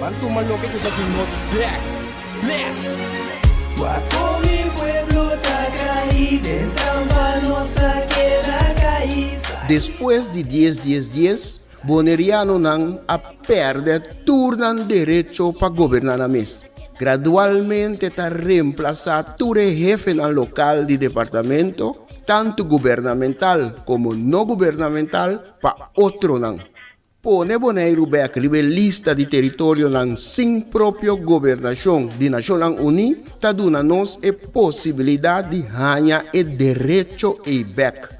Ban tuma loke ku sa tin nos black bless. Guapo mi pueblo ta kai den trampa nos ta keda kai sai. Despues di dies dies dies bonerianonan a pèrdè tur nan derecho pa goberná nan mes. Gradualmente ta remplasá tur e hefenan lokal di departamento, tantu gubernamental komo no gubernamental, pa otronan. Pone Boneiru bek riba e lista di teritorionan sin propio gobernashon di Nashonnan Uní ta duna nos e posibilidat di haña e derecho ei bek.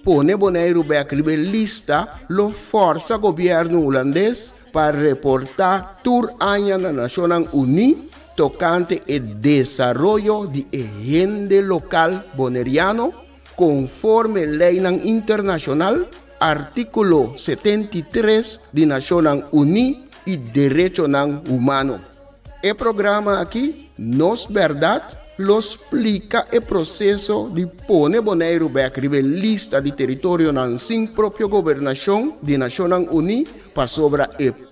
Pone Boneiru bek riba e lista lo fòrsa gobièrnu hulandes pa reportá tur aña na Nashonnan Uní tokante e desaroyo di e hende lokal boneriano, Konforme leinan internashonal, artíkulo setenta i tres di Nashonnan Uní i Derechonan Humano. E programa akí Nos Bèrdat lo splika e proseso di pone Boneiru bèk riba e lista di teritorionan sin propio gobernashon di Nashonnan Uní pasobra e.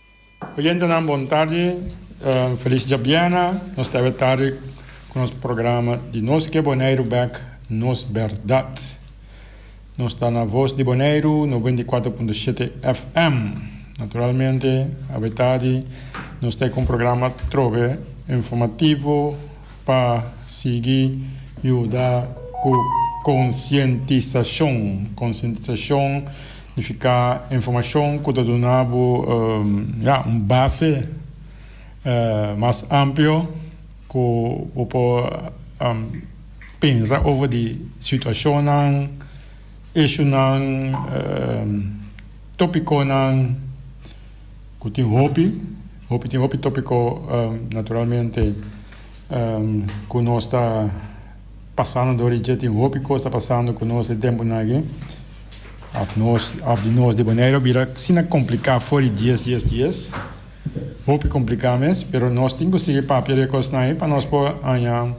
Oyentenan bon tardi, feliz djabiena, nos ta awe tardi cu nos programa di Nos Ke Boneiru Bek Nos Berdad. Nos ta na Voz di Boneiru noventa i kuater punto shete FM. Naturalmente awe tardi nos ta cu un programa trobe informativo pa sigui yuda cu concientisacion, concientisacion. Nifica informacion cu ta duna bo un base mas amplio cu bo por pensa over di situacionnan, issuenan, topiconan cu tin hopi, hopi tin hopi topico naturalmente cu nos ta Pasando dor di dje tin hopi cos ta pasando cu nos den temponan aki. Of nos of di nos di Boneiru a bira asina complica for di dies dies dies. Hopi complica mes, pero nos tin cu sigui papia di e cosnan ey pa nos por haña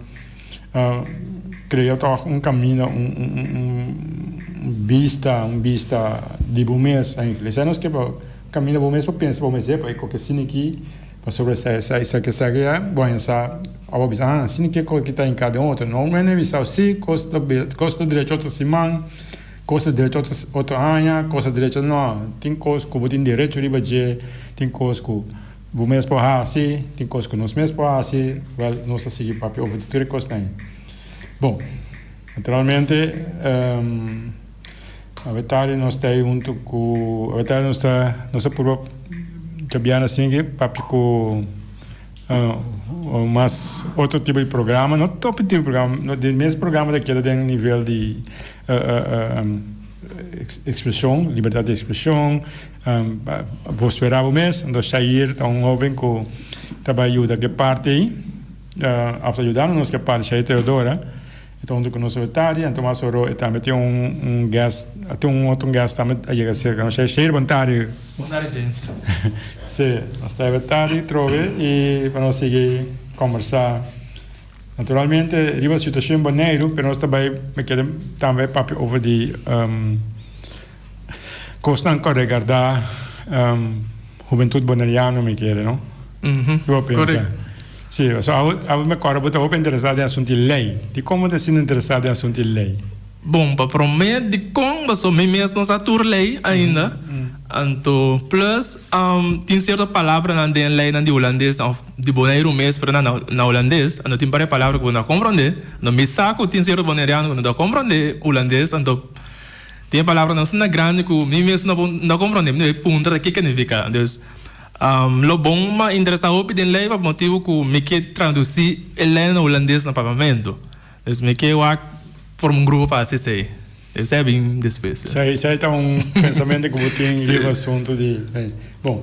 crea toch un camino, un bista, un bista di bo mes. Esey nos ke por camina bo mes pa pensa pa bo mes eppa ey coke asina aki. Pasobra esei, esei, esaki, esaki, e bon e sa a bo bisa, ha, sini ke kos ki ta hinká den otro, no, mene bisao sí, kos ta kos ta drecha otro siman, kos ta drecha otro otro haña, kos ta drecha, no, tin kos ku bo tin derecho riba dje, tin kos ku bo mes por hasi, tin kos ku nos mes por hasi, wèl, nos ta sigui papia over tur e kosnan. Bon, naturalmente, Awetarde nos ta ei huntu ku awetarde nos ta nos ta purba cabiana sin ke papia ku mas otro tipo di programa no ta otro tipo di programa den mes programa ta keda den nivel di ekspreshon libertat di ekspreshon bos wera bo mes entos Shair ta un hoben ku ta bai yuda ke parti ei after yuda nos ke parti Shair Teodora. E ta huntu ku nos oetadi, anto mas oro e tambe tin un un guest, a tin un otro guest tambe a yega serka nos, Shey Shey bantadi. Bantadi James. Sí, nos ta ebe tadi trobe i pa nos sigui kombersá. Naturalmente riba situashon Boneiru, pero nos ta bai mi kere tambe papia over di kosnan ku a regardá. Hubentut Boneriano mi kere no? Ki bo pensa? Si, so awo awo mi kòrda bo ta hopi interesá den asuntu di lei. Dikon bo ta sinti interesá den asuntu di lei? Bon, pa promé dikon pasobra mi mes no sa tur lei ainda. Anto plus tin sierto palabranan den leinan di hulandes òf di Boneiru mes pero nan na hulandes. Anto tin paré palabra ku bo no ta komprondé. Anto mi sa ku tin sierto Boneriano ku no ta komprondé hulandes anto. Tin e palabranan asina grandi ku mi mesun no bo no a komprondé. Mi a puntra ta kiko nifiká. Dus, lo bon m'a interesá hopi den lei pa motibu ku mi ke tradusí e lei na hulandes na Parlamento. Dus mi ke wak forma un grupo pa hasi esei. Esei a bin despues. Esei ta un pensamentu ku bo tin riba asuntu di lei. Bon.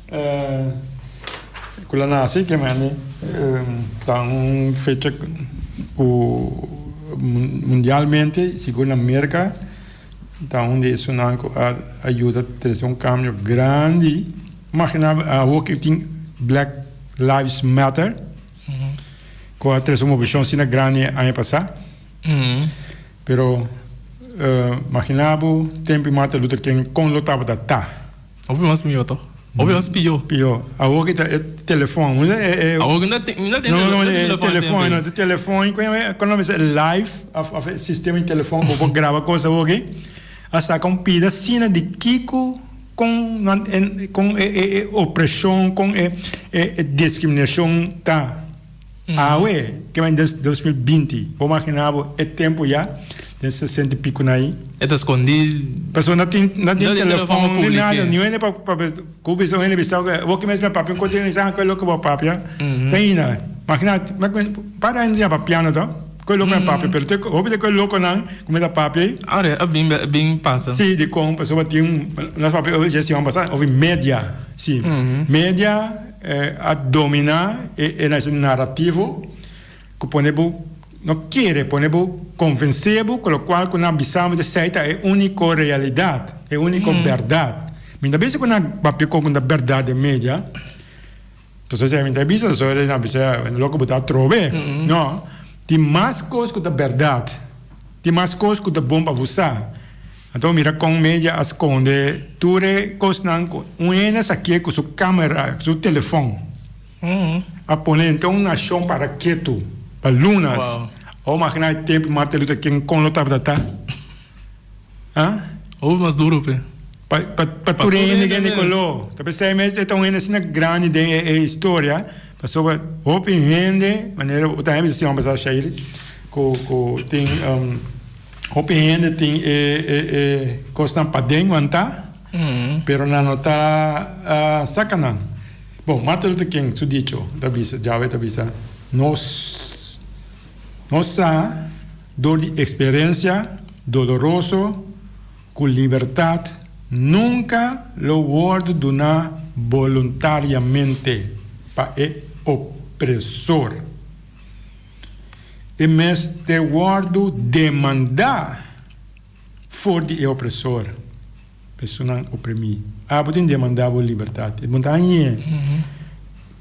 Cu la naci que mende ta un fecha cu mundialmente y sigur na Merca ta un di esunnan cu a yuda trece un cambio grandi. Imagina awo cu tin Black Lives Matter cu a trece un movishon asina grandi aña pasa. Pero imagina bo tempo y Martin Luther King con lo tabata ta. Hopi mas mihó toch? Hopi mas pihó. Pihó. Awor ki ta e telefòn. Mi ta e. Awor ki mi ta tin, mi ta tin telefòn. No, no, no, e telefòn, no. E telefòn i kuen e kònde e live òf, òf e sistema di telefòn ku por graba kos awor aki, a saka un pida asina di kiko, kon nan e, kon e, e, e opreshon, kon e, e diskriminashon ta. Awe, ke mei den dos mil binti. Bo imaginá bo e tempu ya den sesenta i piku na i. E ta skondí. Pasobra no tin no tin telefòn ni nada. Niun hende pa ku bisa un hende bisau ku bo ke mes me papia un kontinua di sanga. Ku e loke bo a papia ta hina. Imaginá un par di aña di yama piano to ku e loke me papia. Pero te hopi de ku e lokonan ku mi ta papia ei. Awe a bin a bin pasa. Sí, dikon pasobra tin nos papia oveja si bai basá ofi media. Sí, media. a dominá e e na esei narativo ku pone bo no kere pone bo konvensé bo ku lokual ku nan bisa bo di esei ta e úniko realidat, e úniko bèrdat. Mi ta bisa ku nan papia kon ku nan ta bèrdat den media, pasobra esei mi ta bisa so esei nan bisa loke bo ta atrobe. No, tin mas kos ku ta bèrdat, tin mas kos ku ta bon pa bo sa. Anto mira kon media a skonde tur e kosnan ku un hende sa ke ku su kamera, ku su telefòn a pone dent'e un nashon para ketu pa lunas. Awor magina e tempu Martin Luther King kon lo tabata ta. Ah? Awor mas duru pe. Pa pa pa tur e hende den e koló. Ta p'esei mes e ta un hende asina grandi den e e historia pasobra hopi hende manera bo ta hende bisa si hòmber sa Shairy ku ku tin. Hopi hende tin e e kosnan paden wantá, pero nan no ta saka nan. Bon, Martin Luther King su dicho ta bisa, Yahweh ta bisa, Nos no sa dor di eksperensia doloroso ku libertat nunka lo wòrdu duná boluntariamente pa e opresor. E mester wòrdu demandá for di e opresor, personan oprimí. Abo tin demandá bo libertat. E puntra, Añe,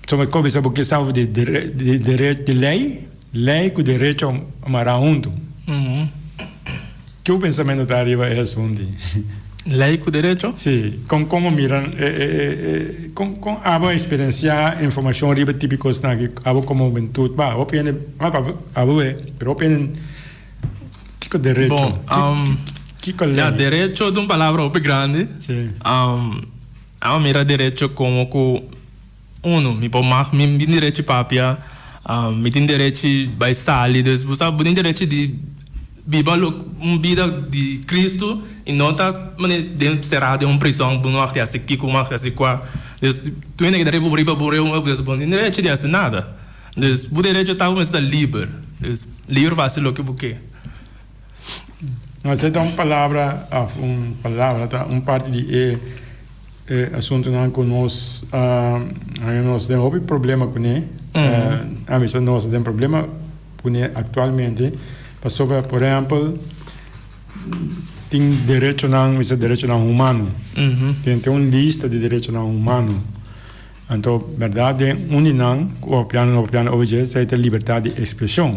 so mi kobisa bo ke sa over di di lei? Lei ku derecho mará huntu. Ke bo pensamentu ta ariba e asunti? Lei ku derecho? Sí, kon kon bo mira kon kon abo a esperensiá informashon riba e tipi kosnan aki abo komo hubentut? Ba, hopi hende abo e, pero hopi hende kiko derecho? Kiko lei? Ya, derecho ta un palabra hopi grandi. Sí. Abo a mira derecho komo ku. Uno, mi por mag, mi tin derechi papia, mi tin derechi bai sali, dus bo sa bo tin derechi di biba un bida di Cristo y no ta sera den un prison bo no mag di hasi kiko bo no mag di hasi kua, dus bo tin derechi bo riba bo reunion pues bo no tin derechi di hasi nada, dus bo derechi ta bo mester ta liber, liber pa hasi loke bo ke. No acepta un palabra of un palabra ta un parti di e e asuntunan ku nos a haya nos den hopi problema kuné. A mester nos a den problema kuné aktualmente pasobra por ehèmpel tin derechonan mi se derechonan humano. Tin tin un lista di derechonan humano. Anto bèrdat den un di nan ku opiando no opiando owe dje esei ta libertad di ekspreshon.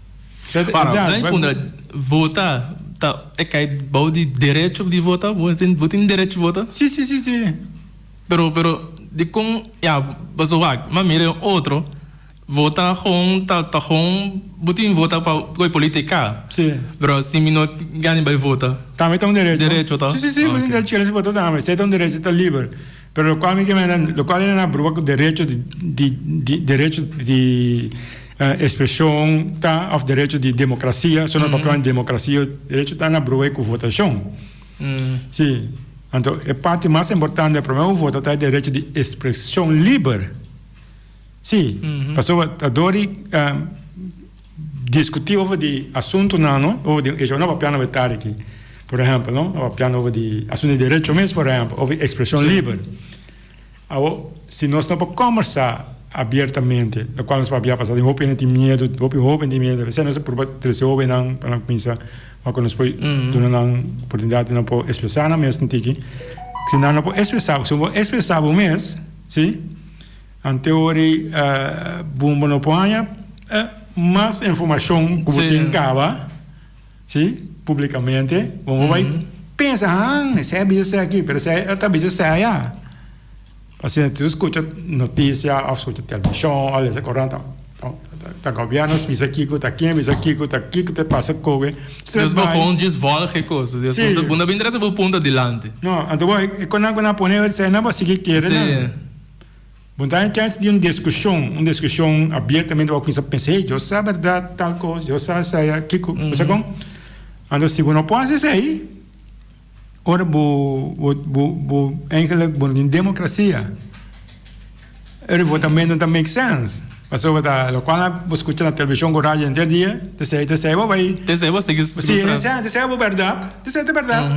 Para, nan punda, vota ta, e kai bou di derecho di vota, bo tin, bo tin derecho di vota? Sí, sí, sí, sí. Pero, pero, dikon, ya, paso wak, m'a mira e otro, vota gon ta, ta gon, bo tin vota pa koe politica. Sí. Pero si mi no gana bai vota. Tambe ta un derecho. Derecho ta. Sí, sí, sí, bo tin derecho di vota tambe, esei ta un derecho ta liber. Pero lo cual mi kier manda, lo cual ena na bruha cu derecho di di di derecho di expresion ta of derecho di democracia, so no ta hablando di democracia, derecho ta na bruha cu votacion. Si, anto e parti mas importante prome bo vota ta e derecho di expresion liber. Si, pasobra ta dor di. Diskutí over di asuntunan, no? Over di e shownan papia na wetari aki, por ehèmpel, no? A papiando over di asuntu di derecho mes, por ehèmpel, over di ekspreshon liber. Awor, si nos no por kòmbersá abiertamente, lokual nos papia pasá den hopi hende tin miedu, hopi hóben tin miedu, p'esei nos a purba trese hóbennan pa nan kuminsá wak ku nos por duna nan oportunidat di nan por ekspresá nan mes. Si nan no por ekspresá, si bo por ekspresá bo mes, si? Ante ori bo no por haña mas informashon ku bo tin kaba si publikamente, bo no bai pensa han esei a bisa esei aki pero esei a ta bisa esei aya. Pasobra si bo skucha notisia òf skucha televishon òf lesa korant ta gobièrnu bisa kiko ta ken bisa kiko ta kiko ta pasa koe. Despues bo houn dje svòlg e kosa bo no ta interesá bo punta dilanti. No, ante bo e konan ku nan pone esei nan bo a sigui kere nan. Bo ta na chans di un diskushon, un diskushon abiertamente, bo a kumsa pensa, hey, yo sa bèrdat tal kos, yo sa esei akiko, bo sa kon. Anto si bo no por hasi esei, ora bo, bo, bo, bo eigenlijk bo no tin demokrasia, e revotamentu no ta make sense. Pasobra ta lokual nan bo skucha na televishon ku radio henter dia, ta esei, ta esei bo bai, Tensei bo a sigui, sigui tras. Tensei bo bèrdat, tensei ta bèrdat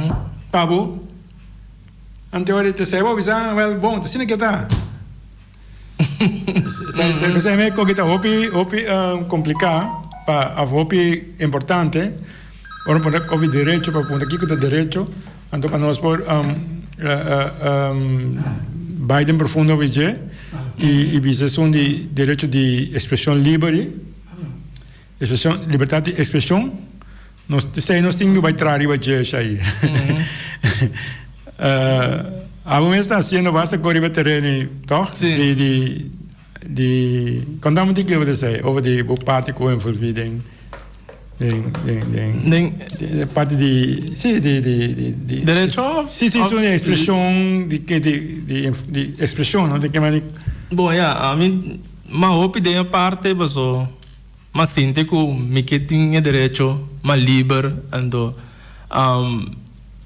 pa bo. Ante ora e ta seba, bisa, Well, bon, ta asina ke ta. Bisa me koke ta hopi, hopi kompliká pa òf hopi importante, ora bo pregunta òf e derecho, pa pregunta kiko ta derecho, anto pa nos por bai den profundo òf e dje i bisa esun di derecho di ekspreshon liber ei. Expresion, libertad di expresion, nos ta esei nos tin yu bai tra riba dje esei. Abo mes ta haciendo basta con riba terreno y to? Sí. Di, di, di, contame di que bo ta esei over di bo parti cu bo envolvi den, den, den, den, Den- den parti di, si, di, di, di, di Derecho? Si, si, Of- so di expresion, di, di, di, di, inf- di expresion, no? Di que mani. Bon, ya, a mi, ma hopi den e parte, paso. Ma sinti ku mi ke tin e derecho ma liber anto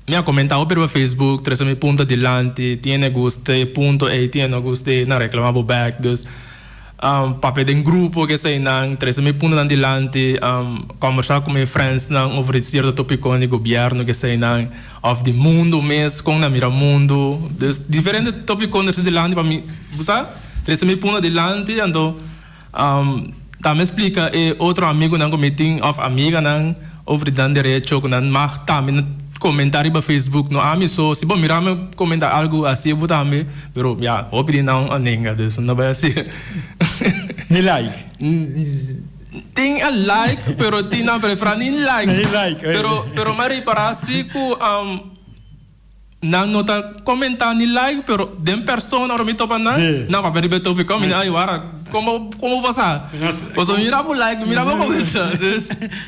mi a komentá hopi riba Facebook trese mi punto dilanti tiene guste e punto ei tiene no guste nan reklamá bo bèk dus papia den grupo keseinan trese mi puntonan dilanti kòmbersá ku mi frèndsnan over di sierto topikon di gobièrnu keseinan òf di mundu mes kon nan mira mundu dus diferente topikon trese dilanti pa mi bo sa trese mi punto dilanti anto. Ta me splica e otro amigunan cu mi tin of amiganan over di nan derecho cu nan mag tambe comenta riba Facebook, no ami so, si bo mira me comenta algo asi bo tambe, pero ya hopi di nan a nenga dus no bay asi. Ni like? Tin a like pero tin nan prefera ni like, pero ma ripara si cu. Nan no ta comenta ni like pero den persona ora mi topa nan nan papia riba e topic con mi di ay wara como como pasa paso mi mira bo like mi mira bo comenta dus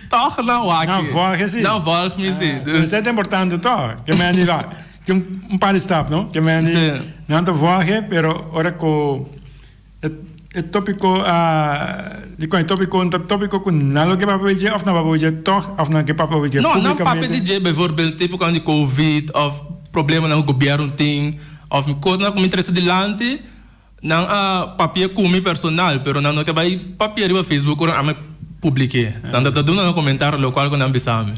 toch nan wak nan volg mi si dus esa ta importante toch ke mende la tin un par di stap no ke mende nan ta volg pero ora ku. E tópiko dikon e tópiko? Un ta tópiko ku nan lo ke papia oye dje òf nan papia oye dje tòg òf nan ke papia oye dje públikamente? No, nan papia di dje bivoorbeeld tipo kuan di covid òf problemanan ku gobièrnu tin òf kosnan ku mi trese dilanti nan a papia ku mi personal pero nan no ta bai papia riba facebook ora ami publike. Nan ta duna nan komentario lokual ku nan bisa mi.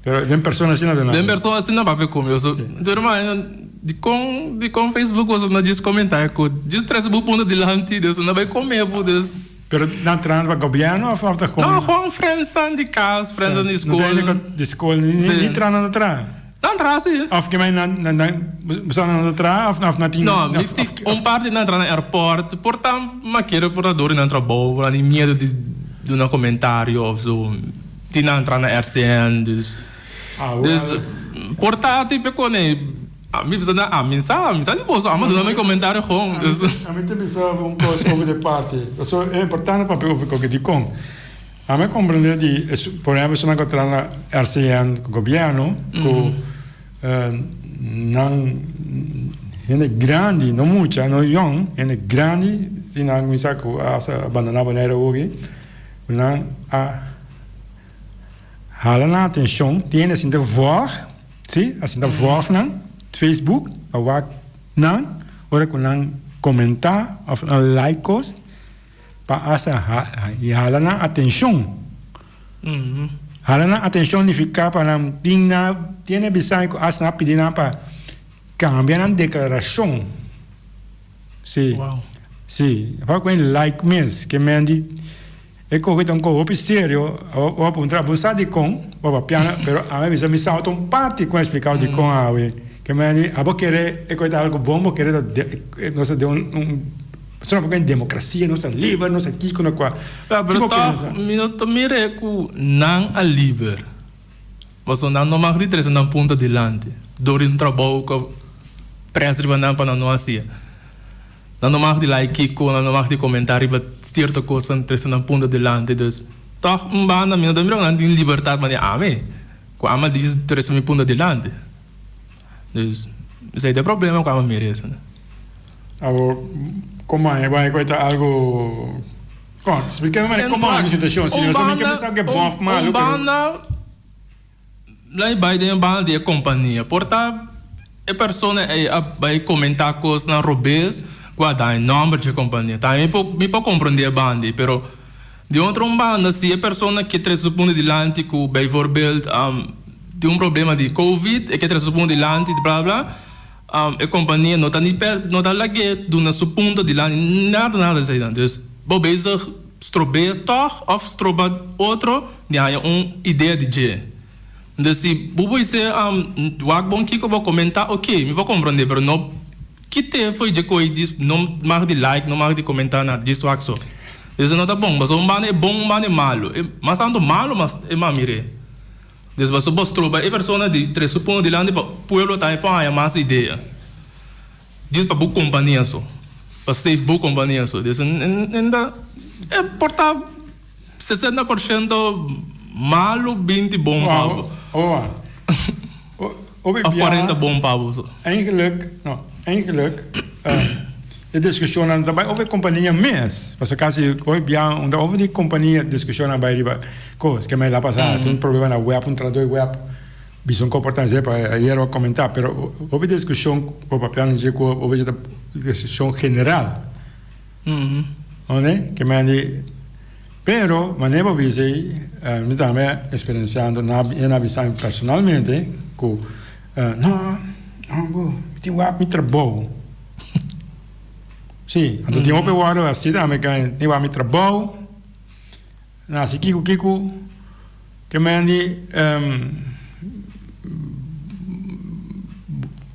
Pero den persona asina ta nada. Den persona asina papia con mi. So, sí. Yo ma, di con, di con Facebook o so na just comenta e cot. Just trece bu punto dilanti, dus na bai come bu, dus. Pero na trana pa gobierno of of ta con? No, gewoon friends aan di cas, friends aan di school. No tiene cot di school, ni, sí. ni trana na trana. Na trana sí. Of que mij na, na, na, busan na trana of, of na tin. No, of, of, of, of, un par di na trana airport, por tan maquero por na dori na trabou, por na ni miedo di, di una comentario of zo. Tin a entra na RCN dus dus portati pe kone mi bisa na ami sa mi sa di boso amo duna mi comentario gon dus. Ami ta bisa bo un cos over de party paso e importante papia over coke dicon ami a comprende di por ejemplo esun nan cu a traha na RCN gobierno cu nan hende grandi no mucha no yong hende grandi tin nan a cuminsa cu a bandona Bonaire hogi. Nan a hala nan atencion, tiene asinta vòg, si, asinta vòg nan, Facebook a wak nan ora cu nan comenta of nan like cos pa asa y hala nan atencion. Hala nan atencion nifica pa nan tin na, tiene bisai cu asa nan a pidi nan pa cambia nan declaracion. Sí. Wow. Sí. Apa cu e like mes, que Mandy, e coge ta un coge hopi serio, o a puntra, bon sa di con, o a piana, pero a me bisa mi sao ta un parti con explicao di con awe, que Mandy, abo kere, e coge ta algo bon, bo kere ta de, nos ta de un, un, pasobra cu en democracia nos ta liber, nos ta kico, nos cua, Ya, pero toch, mi no ta mira e cu nan a liber. Paso nan no mag di trese nan punta dilanti dor di un trabou cu a presa riba nan pa nan no hacia. Nan no mag di lai kico, nan no mag di comenta riba cierto cosnan trese nan punta dilanti. Dus, tog un banda mi no ta mira cu nan tin libertad manera ami, cu ami a dici trese mi punta dilanti. Dus, esey ta e problema cu ami a mira esey. Awor, como a heba e cu a ta algo. Kon? Spliká mi manera komo anda e situashon si nos tambe kier sa ke bòf malu pero. Un banda lei bai den e banda di e kompania por ta e persona ei a bai komentá kosnan robes ku a daña nòmber dje kompania ta mi por mi por komprendé e banda ei pero di otro un banda si e persona ke trese su puntu dilanti ku beivoorbeeld tin un problema di covid e ke trese su puntu dilanti bla bla bla. E kompania no ta ni per no ta lag'é duna su punto di lana ni nada nada esei nan. Dus bo bezig strobeer tòg òf stroba otro di haña un idea di dje. Dus si bo bo bis'é wak bon kiko bo komentá oké mi bo komprondé pero no kité fo'i dje ko'i di no mag di like no mag di komentá nada di swak so. Esei no ta bon pasobra un banda e bon un banda e malu mas tantu malu mas e mami r'é. Des basta bos troba e persona di tres su pon dilanti pa pueblo tambe por haña mas idea. Djis pa bo compania so, pa save bo compania so. Des enda e por ta sesenta por shento malo binti bon pa bo. Oa, oa. Obi bia. Of parent ta bon pa boso. Eigenlijk, no. Eigenlijk, e diskushonnan ta bai over kompania mes. Paso kasi obi bia un ta over di kompania diskushonnan bai riba kos. Ke mester a pasa atu un problema na web, un traductor web bisa un komportament esei pa ayero a komentá. Pero obi diskushon ku papia nan dje ku ovecha ta diskushon general. Oné, ke men di, pero mané bo bisa ei, mi tambe a experenciando, nan a biza mi personalmente ku no, no bo, mi tin wak mi trabou. Sí, anto tin hopi wòrdu así tambe, tin wak mi trabou. Nan a si kiko kiko ke men di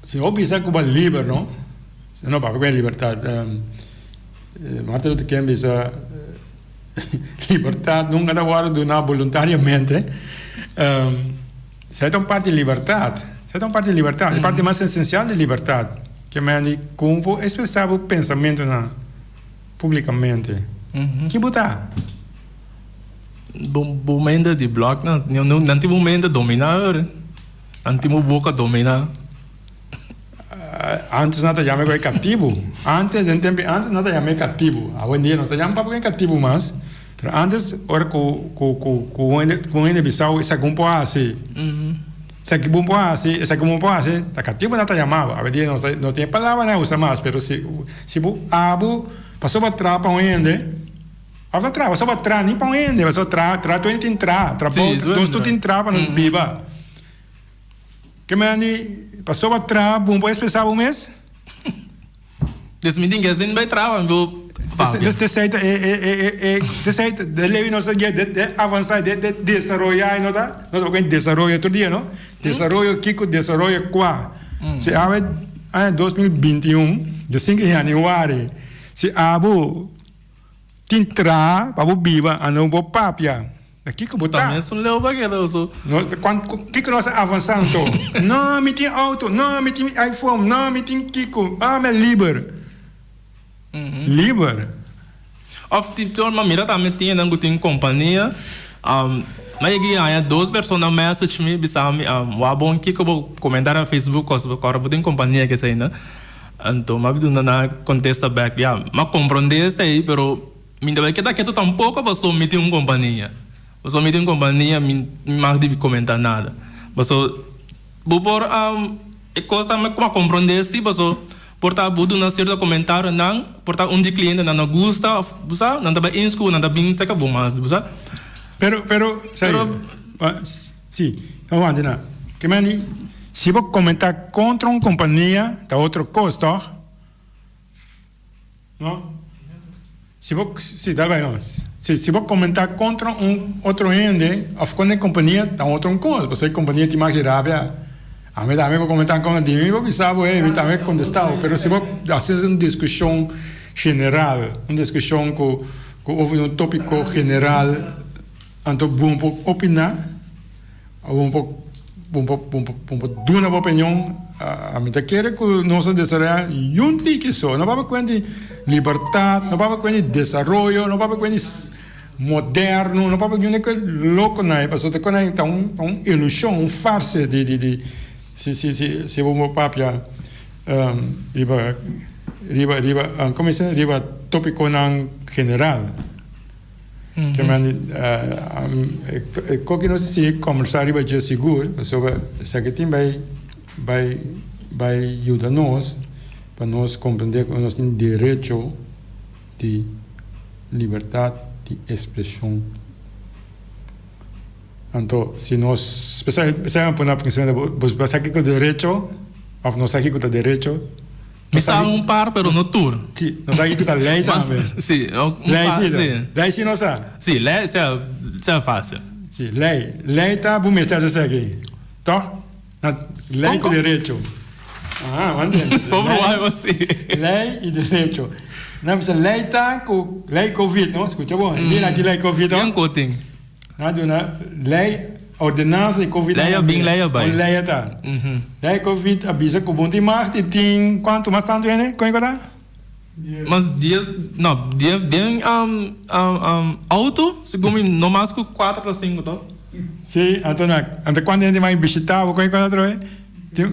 si bo bisa ku bo liber no se no baka bini libertat Martin Luther King bisa libertat nunka ta wòrdu duná boluntariamente esei ta un parti di libertat esei ta un parti di libertat e parti mas esensial di libertat ke men di kon bo espresá bo pensamentunan. Publicamente. Ki bo ta? Bo bo mende di blok nan. Nan tin bo mende dominá were. Nan tin bo boka dominá. Antes nan ta yam'e ku e katibu. Antes den tempu di antes nan ta yam'e katibu. Awendia nos ta yam papia ku e katibu mas. Pero antes ora ku ku ku ku un hende ku un hende bisau i sa ku un por hasi. Esaki bo por hasi, esaki bo por hasi, ta katiempo nan ta yama bo. Abia nos no tin e palabra nan usa mas, pero si si bo abo paso pa tra pa un hende, abo ta tra paso pa tra ni pa un hende paso tra tra tur hende tin tra, tra bou tra nos tur tin tra pa nos biba. Ke men a di paso pa tra bo no por expresa bo mes? Des mi tin guess den bay traba mi bo papia. Tezij ta e tezij ta de lei nos ta guia de de avansa de de desaroya e no ta nos ta guia desaroyo tur dia no desaroyo kiko desaroyo kua si awe aña dos mil binti un di sinku di januari si abu tin traha pa bo biba anto bo papia. Na kiko bo ta? Ta mes un leu bageroso. No, kiko nos a avansa anto? No, mi tin auto. No, mi tin iPhone. No, mi tin kiko. Ah, mi a liber. Liber? Of tin pior, mi a mira ta mi tiendan ku tin kompania. Mi a yega i haña dos persona message mi bisa mi, Wak bon, kiko bo komenta na Facebook kos bo kòrda bo tin kompania esei na? Anto mi a duna nan kontesta bèk, Ya, mi a komprondé esei, pero. Mi no lo keda ketu tampoco paso mi tin un compania. Paso mi tin un compania mi mag di comenta nada. Paso bo por a e cosa mi a compronde si paso por ta bo duna cierto comentario nan por ta un di cliente nan no gusta of bo sa nan ta bainscu of nan ta bin seca bo mas di bo sa. Pero pero sabi si aguanta nan ke mandi si bo comenta contra un compania ta otro cos toch? No. Si bo, si, dal bai nos. Si, si bo comenta contra un otro hende, of contra e compania, ta un otro cos, pasobra e compania tin mas hirabia. Ami tambe bo comenta contra di mi, bo bisa bo, hey, mi tambe a contesta bo. Pero si bo haci un discusion general, un discusion cu, cu over un topico general, anto bon pa opina. Bo por bo por duna bo opinion. Mi ta kere ku nos a desarroya yun tiki so. No papia kuent di libertad, no papia kuent di desaroyo, no papia kuent di moderno, no papia yunde ku lokonai pasobra ta konai ta un ilushon, un farse di di di si bo por papia riba riba riba komo se riba topikonan general. Kiemanti e koki nos a sigui kòmbersá riba dje sigur, pasobra esaki tin bai bai bai yuda nos pa nos komprendé ku nos tin derecho di libertat di ekspreshon. Anto si nos p'esei p'esei a pone a pensá esaki ku derecho òf nos sa ki ku ta derecho, Mi sa un par pero no tur. Si, nos sa kico ta ley tambe. Si, un par, si. Ley si nos sa? Si, ley sa ta facil. Si, ley. Ley ta bo mester haci esaki. Toh? Na ley cu derecho. Aha, bo a hende. Bo bruha bo si. Ley y derecho. Nan bisa ley ta cu ley covid, no? Scucha bo. Di na aki ley covid, oh. Bien cotin. Nan a duna lei, ordenansa i covid. Lei a bin, lei a bai. Un lei a ta. Lei i covid a bisa ku bon tin magt i tin kuantu mas tantu hende, kon e ku a ta? Mas dies, no, dies den outo, segun mi, no mas ku kuater ta sinku, to? Si, anto nan, anto kuantu hende mai bishita bo, kon e ku a ta atrobe? Tin.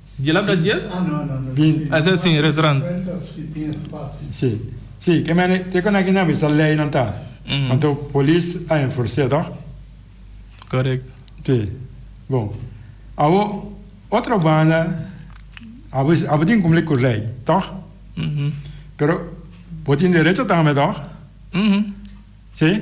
Di la ta dies? Esa e sin restaurant. Si, si, ke mene te konak i na bisa lei nan ta, anto polis a enfors'é to. Correct. Si, bon, awo otro banda abo abo tin cumpli cu lei to, pero bo tin derecho tambe to, si.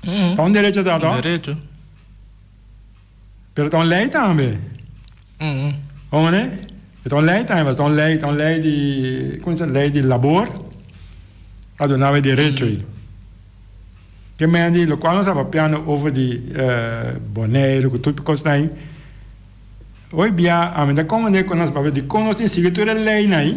Ta un derecho ta to? Derecho. Pero ta un ley tambe. Ongone? Ta un ley tambe, ta un ley, ta un ley di, como se ley di labor. Ta do nawe derecho i. Ke men di lo cual nos apapiando over di uh, Boneiru, ku tur kos nai. Hoy bia, ami ta konde ku nos papia di kon nos tin sigui tur e ley nai.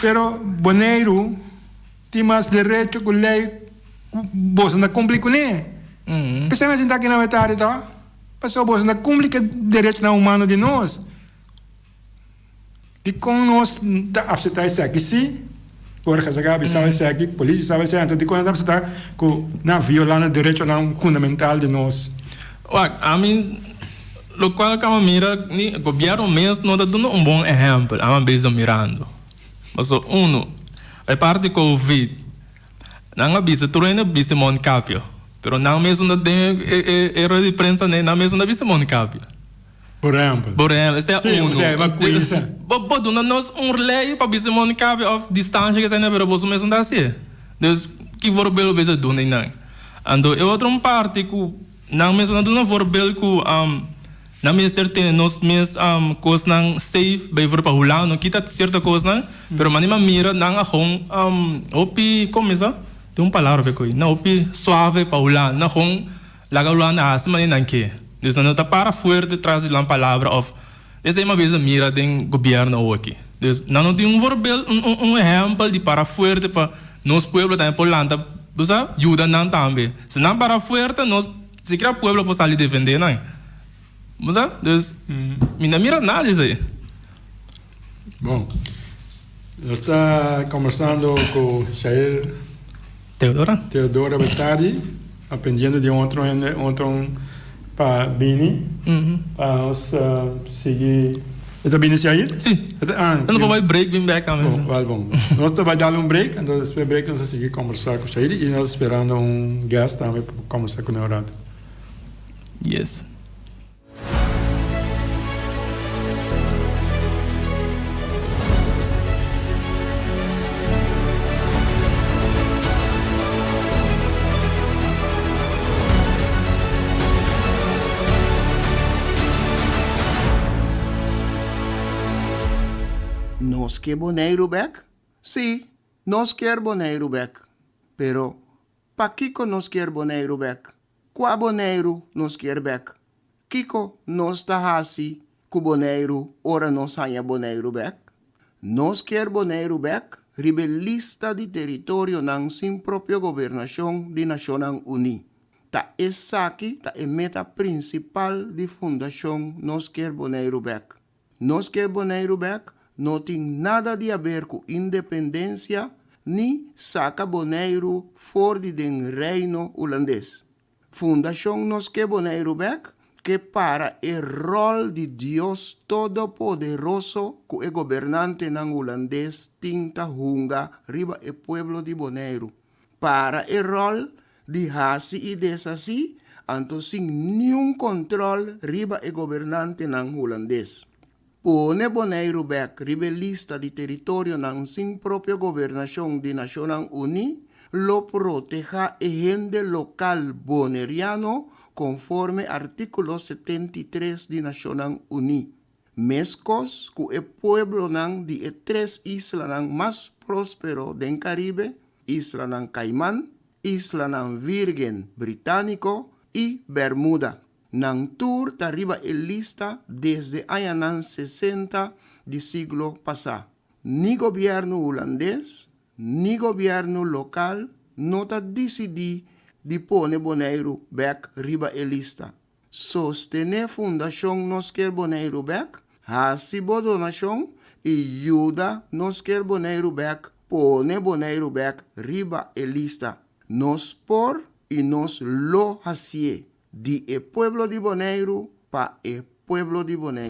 Pero Boneiru tin mas derecho ku lei ku boso na kumpli kuné. P'esei nan sintá aki na Wetari tò, pasobra boso na kumpli ku e derechonan humano di nos. Dikon nos ta apseptá esaki sí? Jorge a sa ka bisau esaki, polis bisau esaki, anto dikon nan ta apseptá ku nan a violá nan derechonan fundamental di nos? Wak, ami. Locual caba mira ni e gobierno mes no ta duna un bon ehempel, ama bezig mirando. Paso uno, e part di covid, nan a bisa tur hende a bisti mondcapio, pero nan mesun ta den e rueda di prensa ne, nan mesun ta bisti mondcapio. Por ehempel. Por ehempel, esei a uno. Sí, bo cuinsa. Bo, bo duna nos un ley pa bisti mondcapio of distancia ke eseinan, pero boso mesun ta haci'e. Dus, ki for bel bo bezig duna di nan? Anto e otro un parti cu. Nan mes lo duna vorbel ku nan mester tene nos mes kosnan safe, bay for pa hula no kita sierto kosnan, pero manera mi a mira nan a hon hopi como esa tin un palabra pe koe nan hopi suave pa hula nan hon laga hulanan a hasi manera nan ke, dus nan no ta para fuerte tras di nan palabra of. Esei mabien ta mira den gobierno awo aki. Dus nan no tin un voorbeeld, un un un ehempel di para fuerte pa nos pueblo tambe por lanta, bo sa, yuda nan tambe. Si nan para fuerte nos sikiera pueblo por sali defende nan. Bo sa? Dus mi no a mira nada di esei. Bon. Nos ta combersando cu Shael Teodora. Teodora Betadi, aprendiendo di un otro hende, un otro pa bini, pa nos uh, sigui. E ta bini Shael? Sí. E ta, ah, Nos pa bai break, bin back aan. Bon, wel bon. nos ta bai dale un break, entonces después break nos ta sigui conversar cu Shael y nos esperando un guest tambe pa conversar cu un rato. Yes. Nos ke Boneiru bek? Sí, nos kier Boneiru bek, pero Pakiko nos kier Boneiru bek? Kua Boneiru nos kier bek? Kiko nos ta hasi ku Boneiru ora nos haña Boneiru bek? Nos kier Boneiru bek riba e lista di teritorionan sin propio gobernashon di Nashonnan Uní. Ta esaki ta e meta prinsipal di fundashon Nos kier Boneiru bek. Nos ke Boneiru bek no tin nada di haber ku independensia ni saka Boneiru for di den Reino Hulandes. Fundashon Nos ke Boneiru bek ke para e ròl di Dios Todopoderoso ku e gobernantenan Hulandes tin ta hunga riba e pueblo di Boneiru. para e ròl di hasi i deshasí anto sin niun kòntròl riba e gobernantenan hulandes. Pone Boneiru bèk riba e lista di teritorionan sin propio gobernashon di Nashonnan Uní lo protehá e hende lokal boneriano konforme artíkulo setenta i tres di Nashonnan Uní. Meskos ku e pueblonan di e tres islanan mas próspero den Karibe, Islanan Kaiman, Islanan Vírgen Britániko i Bèrmuda, nan tur ta riba e lista desde añanan sesenta di siglo pasá. Ni gobièrnu hulandes ni gobièrnu lokal no ta disidí di pone Boneiru bèk riba e lista. Sostené Fundashon Nos Kier Boneiru Bèk, Hasi bo donashon i yuda Nos Kier Boneiru Bèk pone Boneiru Bèk riba e lista. Nos por i nos lo hasié di e pueblo di Boneiru pa e pueblo di Boneiru.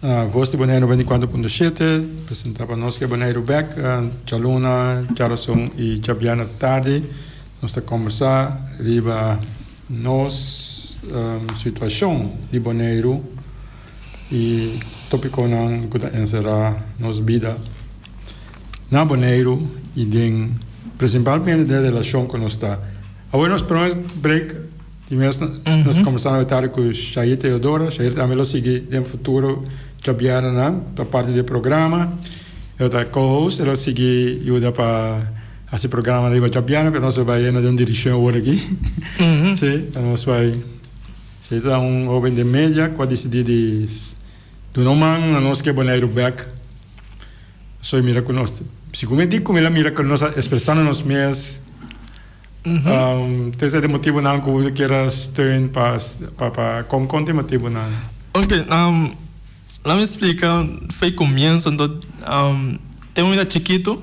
Na Vos di Boneiru ventecuatro punto shete presenta pa nos ke Boneiru bek djaluna, djarason y djabièrnè tardi. Nos ta combersa riba nos situacion di Boneiru y topiconan cu ta encerra nos bida na Boneiru y den principalmente den relacion cu nos ta. Awor nos pone break. Di mes nos a kombersa na tardi ku Shair Teodoro. Shair tambe lo sigui den futuro djobièrnennan pa parti di e programa. E lo ta co-host, e lo sigui yuda pa hasi programa riba djobièrnen, pero nos lo bai henda den dirishon awor aki. Sí, ta nos bai. Shair ta un hoben den media ku a disidí di duna un man na nos ku e Boneiru bèk. Pasobra e mira ku nos, segun e di, komo el a mira ku nos a ekspresá na nos mes Te esei di motibunan ku bo kier a steun pa pa pa kon kon di motibunan? Oke, la mi splika fo'i komienso anto tempo mi ta chikitu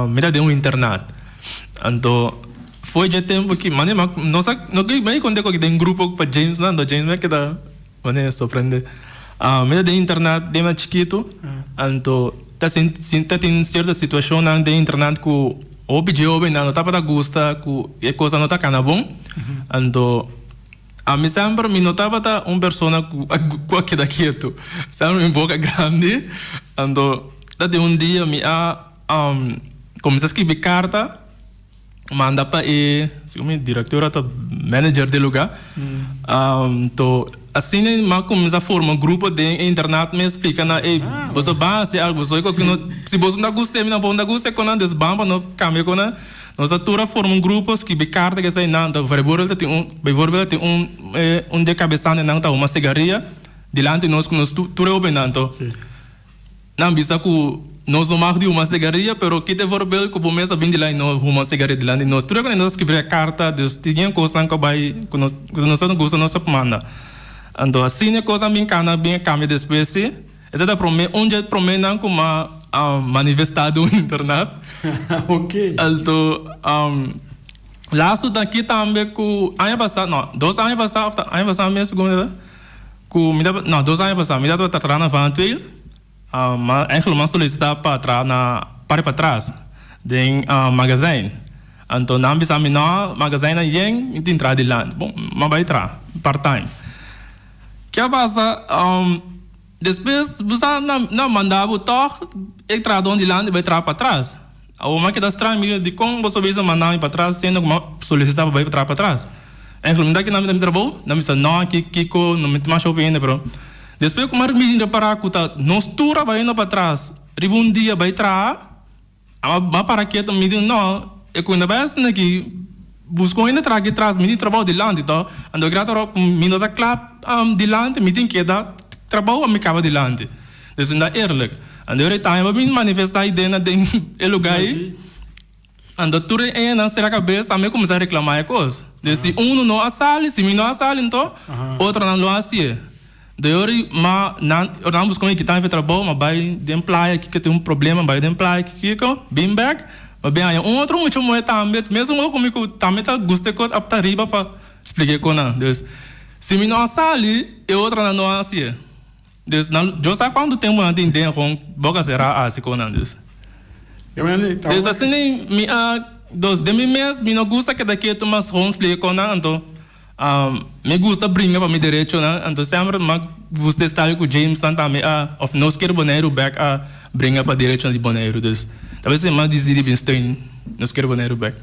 mi ta den un internat anto fo'i dje tempu ki mane nos a no ke me konta den grupo pa James nan anto James mi a keda Manera e sorprende mi ta den internat den mas chikitu, anto ta sinti ta tin sierto situashonnan den internat ku hopi jovennan no tabata gusta ku e kosnan no ta kana bon, anto ami semper mi no tabata un persona ku ku a keda kietu, semper mi boka grandi, anto ta tin un dia mi a kominsa skibi karta. manda pa e directora ta manager di e luga to asina nan cuminsa forma grupo den e internat mi a splica nan ey boso ban haci algo boso ey coki si boso no ta gusta mi tampoco no ta gusta con nan dus ban pa no cambia con nan nos a tur a forma un grupo scribi carta ki esey nan ta vreborde ta tin beyvoorbeeld ta tin un di e cabesal di nan ta huma cigaria dilanti nos cu nos tur tur e hopi nan to. Nan bisa cu nos no mag di human sigaria, pero kite voorbeeld cu bo mes a bin di la y no human sigaria dilanti di nos. Tur e cona nos a scribí e carta, dus, tien cosnan cu a bay cu nos, cu nos no gusta nos a manda. Anto asina e cosnan bin cana, a bin a cambia despues si. Esey ta prome, un dje prome nan cu m'a manifesta den un internat. Anto laatste ta aki tambe cu aña pasa, no, dos aña pasa of ta aña pasa mes, si cu me ta. Ku mi ta, no, dos aña pasá mi ta tabata traha na Vanuatuil, ma Angel lo man solisitá pa traha na parti patras den magazijn. Anto nan a bisa mi, no, magazijn nan yen, mi tin traha dilanti. Bon, m'a bai traha part-time. Ke a pasa? Despues bo sa nan a mandá bo tòg e trahadó dilanti bai traha patras. Awor m'a keda strang, mi di, Dikon boso bisa manda mi patras siendo ku m'a solisitá pa bai pa traha patras? E fla, Mi ta aki na mi ta mira bo, na mi sa nòk aki kiko, no mi tin masha hopi hende. Pero despues ku Mark Michie repará ku ta nos tur a bai henda patras riba un dia bai traha, m'a para kiet i mi di, No, e ku henda bai haciendo aki, buska un hende traha aki tras mi tin trabou dilanti tò. Anto e grata ro'p mi no ta kla dilanti, mi tin keda trabou pa mi kaba dilanti. Esei ta eerlijk. An de orita hemba bin manifesta idenan den e luga ei, an ta tur e enan sera kabes tambe kuminsá reklamá e kos. Den si unu no a sali, si mi no a sali nto otronan lo hasié. De ori ma nan, ora nan buska un hikita hef e trabou, ma bai den playa aki ke tin un problema, bai den playa aki kiko, bin bèk, ma bin haña un otro mucha muhé tambe, mesun hopi mi ku tambe ta gusta e kos a ta riba pa splika e kosnan. Des si mi no a sali, e otronan no a hasié. Dus nan lo sa cuantu temponan tin den con boca cera a haci conan dus. Dus asina mi a dos den mi mes mi no gusta keda ketu mas con splica conan anto mi gusta bringa pa mi derechonan anto semper mi a gusta esta cu James nan tambe a of nos ker Boneiru bek a bringa pa derechonan di Boneiru dus ta wens mi a decidi bin steun nos ker Boneiru bek.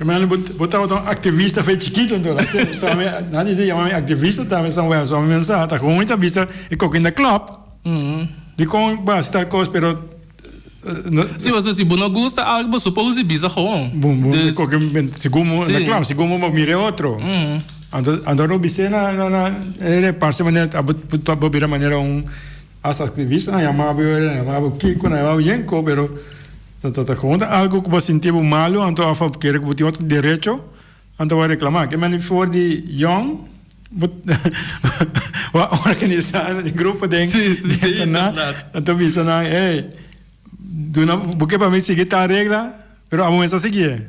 Carmelo, bo tabata un activista fe chikito anto la sey, so mi nan di yama mi activista tambe so wèl so mi mensa hasta hoon mi ta bisa e koki in da club dikon basi tal kos pero Si bo ta si bo no gusta algo bo suppose di bisa hoon boom boom e koki sigun bo in da club sigun bo bo mira e otro anto anto lo bis'e na na na e reparse manera abo bo bira manera un. Asta aktivisnan a yama bo, a yama bo Kiko, nan a yama bo Yenko, pero ta kon ta algu ku bo a sinti bo malu, anto a kere ku bo tin otro derecho, anto bo a reklama. Ke mane for di Yon, bo a organisá nan e grupo den internat, anto bisa nan, hey, duna bo ke pa mi sigui tal regla, pero abo mes a sigié.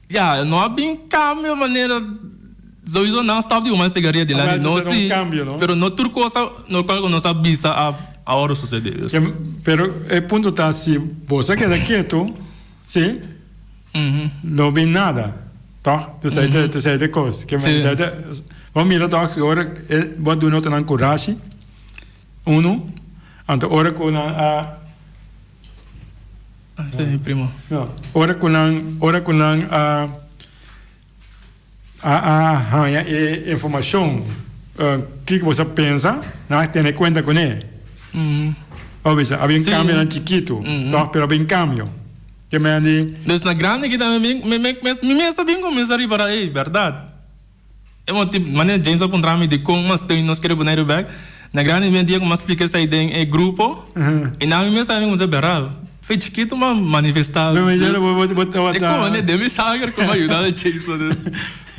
Ya, no a bin cambio manera Sowieso nan a stop di un mester siga riba di lani, no si, pero no tur cosa no cual cu nos a bisa a awor a sucede. Ya, pero e punto ta si bo sa keda keto, si, no bin nada, toch? Tesey te, tesey te cos, ke men tesey te, bo mira toch si ora e bo a duna otro nan curashi, uno, anto ora cu nan a. Ora ku nan, ora ku nan a, a, a haña e informashon, kiko bo sa pensa? Nan a tene kuenta kuné. Bo bisa, a bin kambio na chikitu, tòg, pero a bin kambio. Ke mende. Des na grandi kita, mi, mi, mi mes a bin kuminsá ripará, ey, bèrdat. E moti manera James a puntra mi di con mas steunen nos kere bunai riba bek, na grandi mi e dia cu mi a splica esai den e grupo, y na mi mes a cuminsa beral. Fe chikito mi a manifesta e cohone den mi sanger cu mi a yuda e James nan den.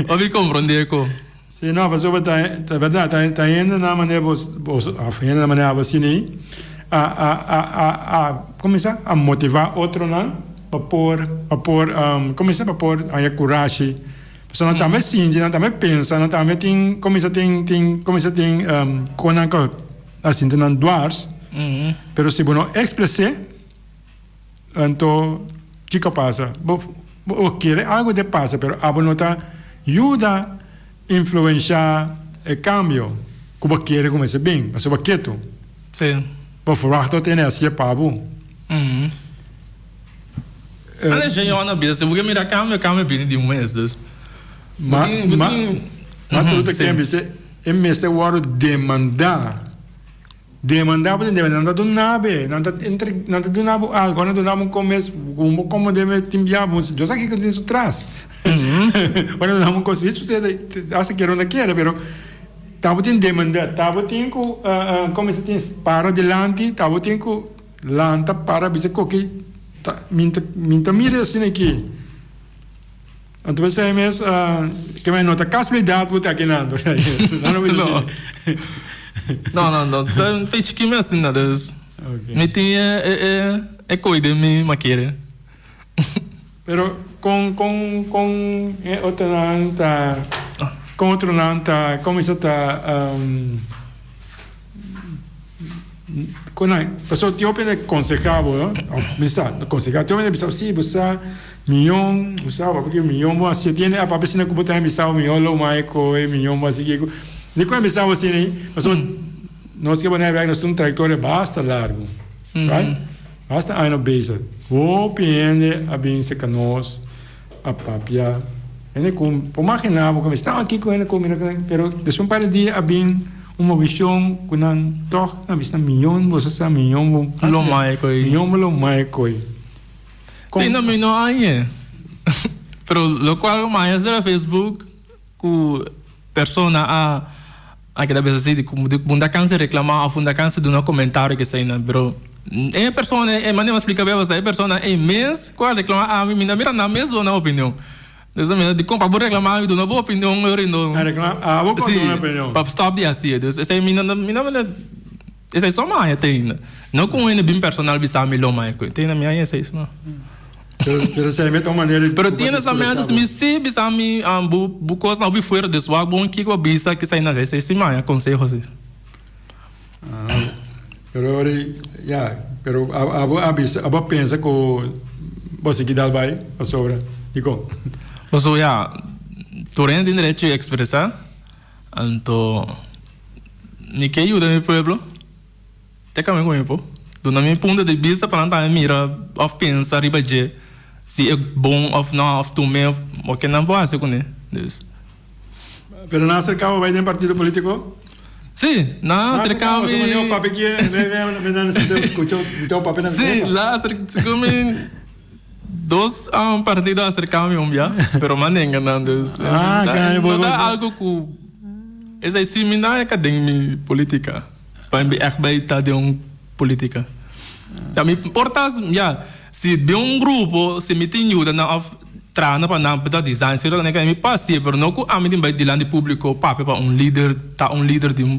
Bo mi comprende eco. Si, no, pasobra ta, ta berdad, ta, ta hende na manera bo, bo, of hende na manera abo sini a, a, a, a, a, como mi sa, a motiva otronan pa por, pa por, como mi sa, pa por haña curashi. So nan tambe sinti, nan tambe pensa, nan tambe tin cominsa tin tin cominsa tin con nan ta a sinti nan dwars, pero si bo no expres'e anto kico pasa? Bo bo kere algo de pasa pero abo no ta yuda influencia e cambio cu bo kere cu mester bin pasobra bo ketu, bo verwacht lo tene asie pa bo. Hala e señornan bestia, bo ke mira cambio, cambio bini di un mes, dus bo tin, bo tin. Ma tur ta kende bis'e e mester wòrdu demandá. Demandá pasobra debe nan ta duna be, nan ta entre, nan ta duna bo algu, nan ta duna bo un komes ku bo komo debe tin bia bo si Dios a hiko den su tras. Bo ta duna bo un kos si susede, hasta kere o no kere, pero ta bo tin demandá, ta bo tin ku komo se dice para dilanti, ta bo tin ku. Lan ta para a bisa koki ta mi ta mi ta mira e asina aki. Anto mi a siña mes ke mai no ta kasulidat ku ta aki nan por si akeso nan lo bisa asina. No no no ta un fechi ki mi a asina dus mi tin e koi den mi makere. Pero con con con e otronan ta con otronan ta cominsa ta um con nan paso tin hopi nan conseha bo no of bisa no conseha tin hopi nan bisa bo si bo sa miyon bo sa bo a piki miyon bo a siet yende a papia sina ku bo ta hen bisa bo miyon lo mai ko e miyon bo a si kiko di ku a hen bisa bo sini paso nos ke bo na e wèk nos tin un trayektoria basta largu right. Hasta aña bezig, hopi hende a bin cerca nos, a papia. Hende cu por magina bo cu mester staba aki cu hende cu mira, pero despues un par de dia a bin un movicion cu nan tog a bisa miyon boso sa, miyon bo lo mai coy, miyon bo lo mai coy. Tin no mino añe, pero locual cu maya sera Facebook. Ku persona a a keda bisa si di ku un ta kansa reklama òf un ta kansa duna komentario ke eseinan. Pero e persona e manera mi a splika beba sa e persona ei mes ku a reklama ami mi ta mira nan mes duna opinion. Despues mi ta di kon pa bo reklama ami duna bo opinion yorindo si pa stòp di hasi e. Pues esei mi no ta. Esei so maya te ainda. No cu un hende bin personal bisa mi lo maya cu te ainda mi haya esei so. Pero esei mi ta un manera di. Pero tienes la mente si mi si bisa mi bu bu cosnan hopi fuera des wak bon kico bo a bisa ki sai na esei esei si maya conseho si. Pero ora ya pero abo a bisa abo a pensa cu bo a sigui dal bay pasobra dicon. Paso ya tur hende tin derecho di expresa. Anto mi ke yuda mi pueblo te kami ku mi por duna mi punto di bista pa nan tambe mira òf pensa riba dje si e bon òf nò òf tume òf bo ke nan por hasi kuné dus. Pero nan a serká bo bai den partido polítiko? Sí, nan a serká mi. Nan a serká bo asina mi pape kier, nan a serká bo asina mi pape nan. Sí, nan a serká mi. Dos partido aser cambio un bia, pero mas nenga nan dus. No ta algo cu esai si mi na e ka den mi politica. Pain mi echt bay ta den un politica. Ta mi porta ya si den un grupo si mi tin yuda nan of trana pa nan beta design sera mi pasa si pero no cu ami tin bay dilanti publico papia pa un lider ta un lider di un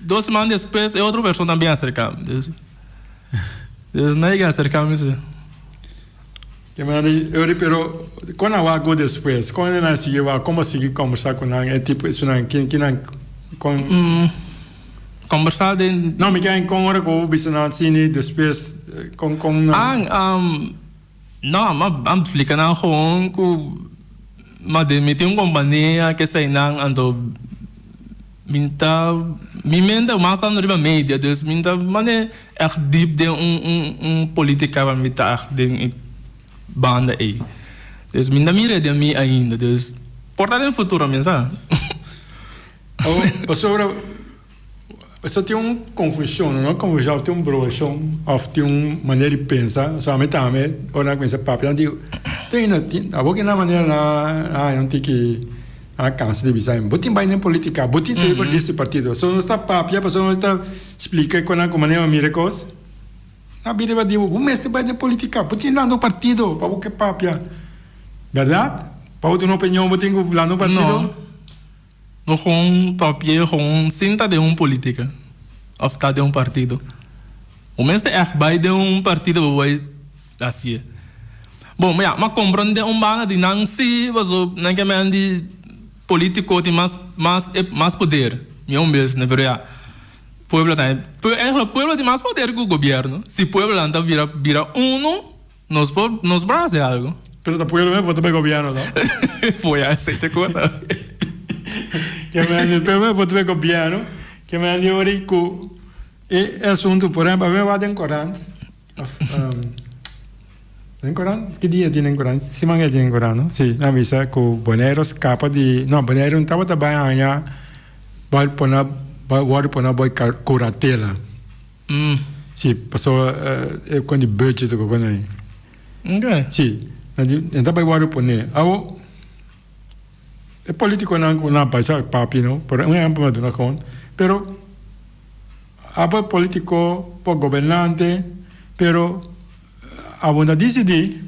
Dos seman despues e otro persona tambe a acerca mi. Dios dios nadie ke a acerca mi si. Ke manera di ori pero kon a wak go despues? Kon nan a sigui wak? Kon bo a sigui combersa ku nan e tipo esunnan kin kinan kon? Combersa den. No mi ke kon ora ku bo bisa nan sini despues kon kon nan. An am. No, ma ban plika nan gewoon ku ma den mi tin un kompania ke sa inan anto min ta mi menter mas ta riba media dus min ta mane èg dip den un un un politika wak mi ta èg den e banda ei dus mi no mira den mi ainda dus por ta den futuro mesa. Pasobra. Esto tin un confusion, no confusion of tin un broshon of tin un manera di pensa, so ami tambe ora nan a cuminsa papia nan dico tin ino tin abo kinan manera nan a haña un tin ki nan a cansa di bisa bo tin bai den politica bo tin sali for di este partido so nos ta papia pasobra nos ta splica cu nan cu manera bo mira e cos nan a bira riba di bo bo mester bai den politica bo tin lanta un partido pa bo ke papia verdad? Pa bo tin un opinion bo tin cu lanta un partido. No con ta pie con sin ta den un politica of ta den un partido. Bo mester echt bay den un partido bo bay haci'e. Bo ya m'a comprende un banda di nan si paso nan ke men di politico tin mas mas e mas poder mi un bes ne pero ya pueblo ta pueblo tin mas poder cu gobierno si pueblo nan ta bira bira uno. Nos por nos por hace algo. Pero ta pueblo meh por vota p'e gobierno no. Foya e sete cota. Kia me andi pero meh por vota p'e gobierno. Kia me andi ori cu e asunto por ehemplo awe me wak den corant of den corant ki dia tin den corant siman e tin den corant no si nan bisa cu Bonero scapa di no Bonero no tabata bay haya bay pona bay worde pona bay curatela. Si, paso e con di budget oca con ayi. Okay. Si, na di, en ta bai wari pone. Awo, e politiconan cu na bai sa papi, no, por un ehemplo na duna con, pero apa politico, apa gobernante, pero awor ta dicidi.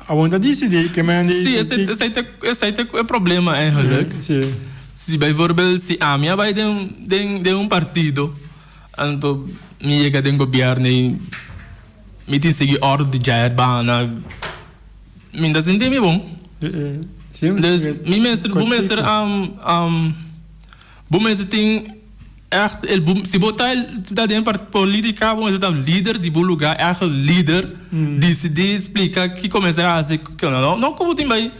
A wanta disi di ke men di. Sí, esei, esei ta, esei ta e problema eigenlijk. Sí, sí. Si bijvoorbeeld si ami a bai den, den, den un partido, anto mi yega den gobièrnu i mi tin sigui òrdu di djai Arbana, mi no ta sinti mi bon. Sí, sí. Pues mi mester, bo mester. Bo mester tin echt el bo si bo ta ta den partido politica bo mester ta un lider di bo lugar echt un lider dicidi explica ki cu bo mester haci cu cu no no cu bo tin bay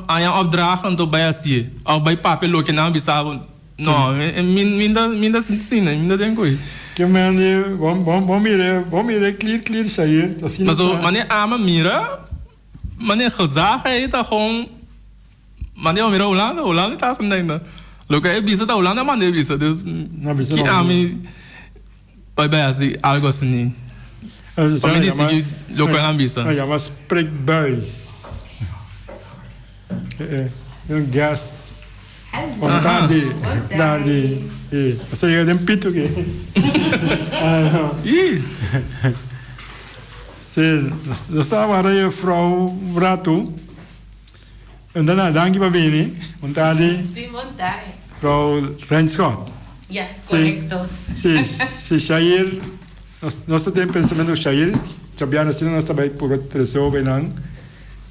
aña opdrachten to bay haci of bay papia loke nan a bisa bo no mi mi no mi no sina mi no den cu e. Ki mende bo bo bo mire bo mire clear clear shair ta sina ta. Paso mane ama mira mane gezag ei ta gewoon Manda pa mira Hulanda, Hulanda e ta haciendo ainda. Lo que e bisa ta Hulanda manda e bisa. Dus, ki ami pa bai haci algo asini. Pa mi di sigui loke a nan bisa. A yama spreekbuis. Den guest. Bon tardi. Tardi. Esta yega den pito ke. Si, nos ta wara e juffrouw un rato. Bon dana, danki pa bini. Bon tardi. Sí, bon tardi. Rou Renschoot. Yes, correcto. Sí, sí, Shair, nos ta den pensamentu cu Shair, djabiada asina nos ta bay puro tresor bay nan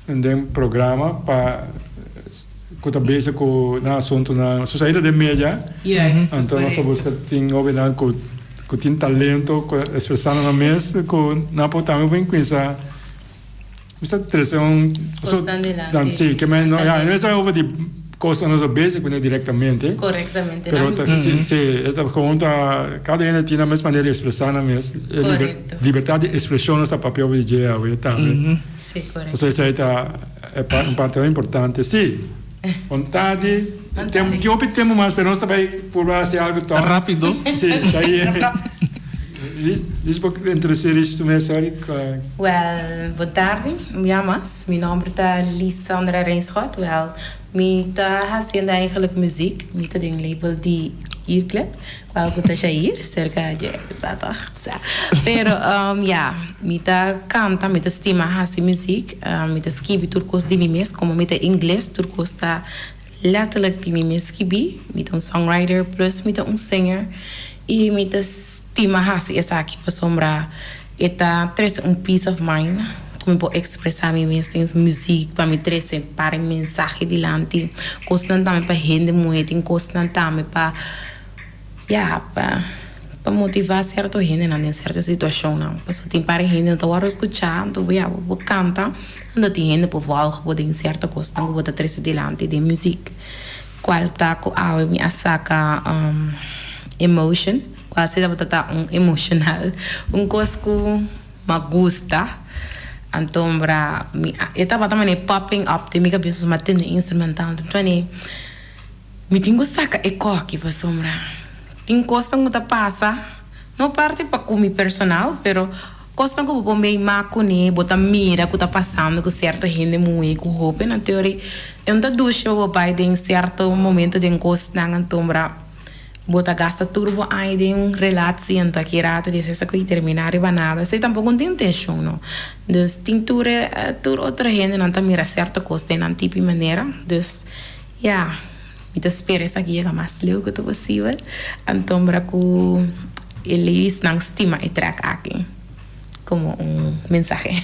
den programa pa cu ta bezig cu nan asuntunan. Su Shair ta den media, anto nos ta busca tin hopi nan cu tin talento cu ta expresando nan mes cu nan por tambe por incuinsa Mi sa trese un Kosnan di lanti. Si, ke men no, ya, e no mester over di kos nan nos bezig ku ne direktamente. Korektamente, Pero nan ta, si, mester. si, e ta gewoon ta, kada hende tin nan mes manera di ekspresá nan mes. E liber, Korekto. libertad di ekspreshon nos ta papia over di dje awe, tambe. Si, korekto. Pasobra esei ta e par, un parti importante. Si. Ontadi, di hopi tempu mas pero nos ta bai purba hasi algu tòg. Ta rápido. Sí, ta ahí e. Rish por introducí Rish su mes hoy. Wèl, bon tardi un bia mas. Mi nòmber ta Lisandra Rijnschout. Wèl, mi ta hasiendo eigenlijk muziek. Mi ta den label di Earclap. Algu ta Jair serka dje, sa tòg? Sa. Pero, ya, mi ta kanta, mi ta stima hasi muzik, mi ta skibi tur kos di mi mes. Komo mi ta ingles, tur kos ta lètterlijk di mi mes skibí. Mi ta un songwriter, plus mi ta un singer. I mi ta stima hasi esaki pasobra. E ta trece un peace of mind cu mi por expresa mi mes tins music pa mi trece pare mensahe dilanti cosnan tambe pa hende muhe tin cosnan tambe pa ya pa pa motiva cierto hendenan den cierto situacionnan pasobra tin pare hende no ta worde scucha anto bo ya bo canta anto tin hende por volg bo den cierto cosnan cu bo ta trece dilanti den music cual ta cu awe mi a saca emotion. Kualse tabata ta un emoshonal, un kos ku mi a gusta. Anto bra mi a, e tabata manera popping up den mi kabes pasobra mi a tende instrumental. Anto anto mi tin ku saka e koki pasobra tin kosnan ku ta pasa, no parti pa ku mi personal, pero kosnan ku bo por meima kuné, bo ta mira ku ta pasando ku sierto hende muhé ku hóbennan. Anto yori e un ta dushi pa bo bai den sierto momento den kosnan. Anto bra. Bo ta gasta tur bo aña den un relatsie anto aki rato di esei sa cu i termina riba nada. Esei tampoco no tin intencion, no. Dus, tin tur e, tur otro hende nan ta mira cierto cos den nan tipi manera. Dus, ya, mi ta spera esaki yega mas leuke cu posibel, antombra cu e ladiesnan stima e track aki como un mensahe.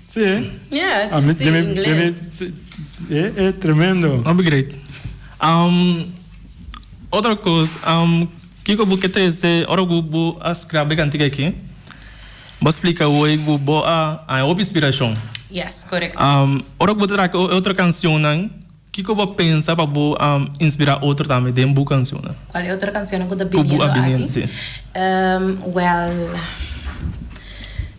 Sí, eh? Ja, ah, mi, sí, inglés. Mi, mi, sí. E, e tremendo. No be great. Um, otro cos, um, kiko bu ke trece ora bu, bu a scrabe cantica aki? Bo explica hoy bu bo a, a hopi inspiracion. Yes, correcto. Um, ora bu ta traca otro cancionnan, Kiko bo pensa pa bo a inspirá otro tambe den bu cancionnan? Cual e otro cancionnan cu ta biniendo aki? Well,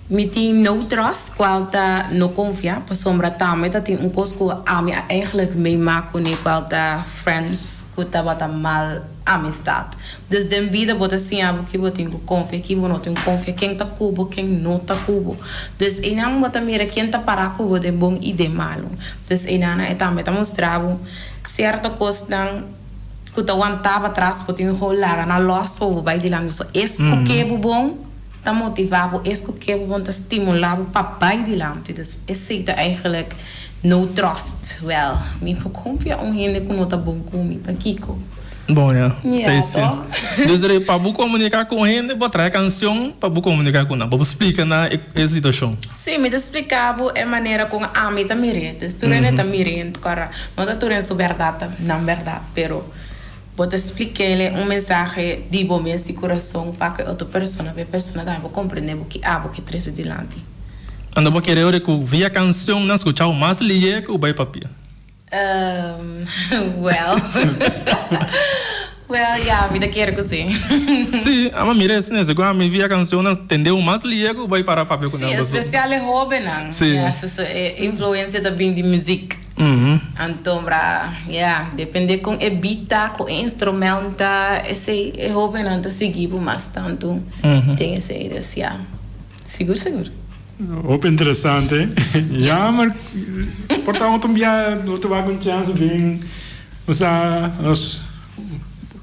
mi tin No Trust, cual ta No Confia, pasobra tambe ta tin un cos cu ami a eigenlijk meema cune, cual ta friends cu tabata mal amistad. Dus den bida bo ta siña bo ki bo tin cu confia, ki bo no tin cu confia, ken ta cu bo, ken no ta cu bo. Dus einan bo ta mira ken ta para cu bo den bon y den malo. Pues einan e tambe ta mustra bo cierto cosnan cu ta wanta pa tras cu tin un hou laga na los pa bo bay dilanti. So es cu ke bo bon ta motiva bo, es cu ke bo bon ta stimula bo pa bay dilanti. Dus esey ta eigenlijk no trust. Wel, mi no confia un hende cu no ta bon cu mi. Pakico? Bon ya. Ya toch? Dus rei pa bo comunica cu un hende bo trahe cancion pa bo comunica cu nan, pa bo splica nan e situacion. Sí, mi ta spliká bo e manera kon ami ta mir'é. Entonces, tur hende ta mir'é en tokora. No ta tur hende su bèrdat ta nan bèrdat, pero bo ta splik'éle un mensahe di bo mes di kurason pa ku e otro persona, pa e persona tambe por komprendé bo ki abo ke trese dilanti. Anto bo kere ora ku via kanshonnan skuchá bo mas lihé ku bai papia? Umm, well. Well, ya, mi ta kier cu si. Si, ama mira e snes, cu ami via cancionnan tende'u mas liego bai para papia cu nan Si, paso. especial e hobennan. Si. Ya, so, so, e influencia ta bin di muziek. Mhm. Anto bra, ya, depende con e beat ta, con e instrumel ta, esey, e hobennan ta sigui por mas tanto. Mhm. Den esey, dus ya. Sigur sigur. Hopi interesante. Jammer por ta otro bia no te wak un chance bin nos a nos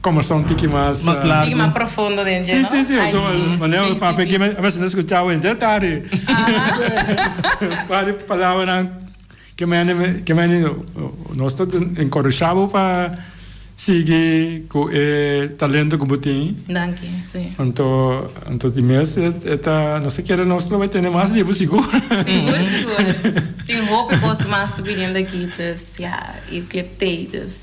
conversa un tiki mas Mas largo. Tiki mas profundo den dje, no? Si, si, si. So, manera un papia aquí, a veces no escuchaba en detalle. Aha. Wari palabranan. Ke mene nos ta encorashá bo pa sigui ku e talento ku bo tin. Danki, si. Anto, anto di mes e ta, nos ta kere nos lo bai tene mas di bo sigur. Sigur, sigur. Tin hopi kos mas ta bini unda kites, ya, i clip tei dus.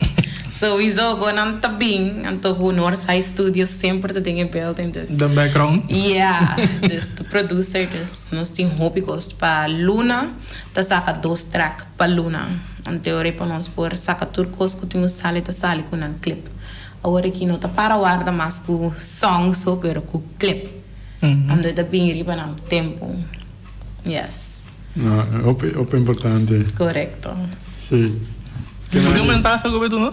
So i zo go nan ta bin, anto ku nos high studio semper ta den e building dus. Den background. Ya, dus ta producer, dus nos tin hopi kos pa luna. ta saka dos track pa luna un teori pa nos por saka tur cos cu tin cu sali ta sali cu nan clip awor aki no ta para warda mas cu song so pero cu clip ando e ta bini riba nan tempo yes hopi hopi importante. Corecto. Si. Kico mensahe ta cubi tu no?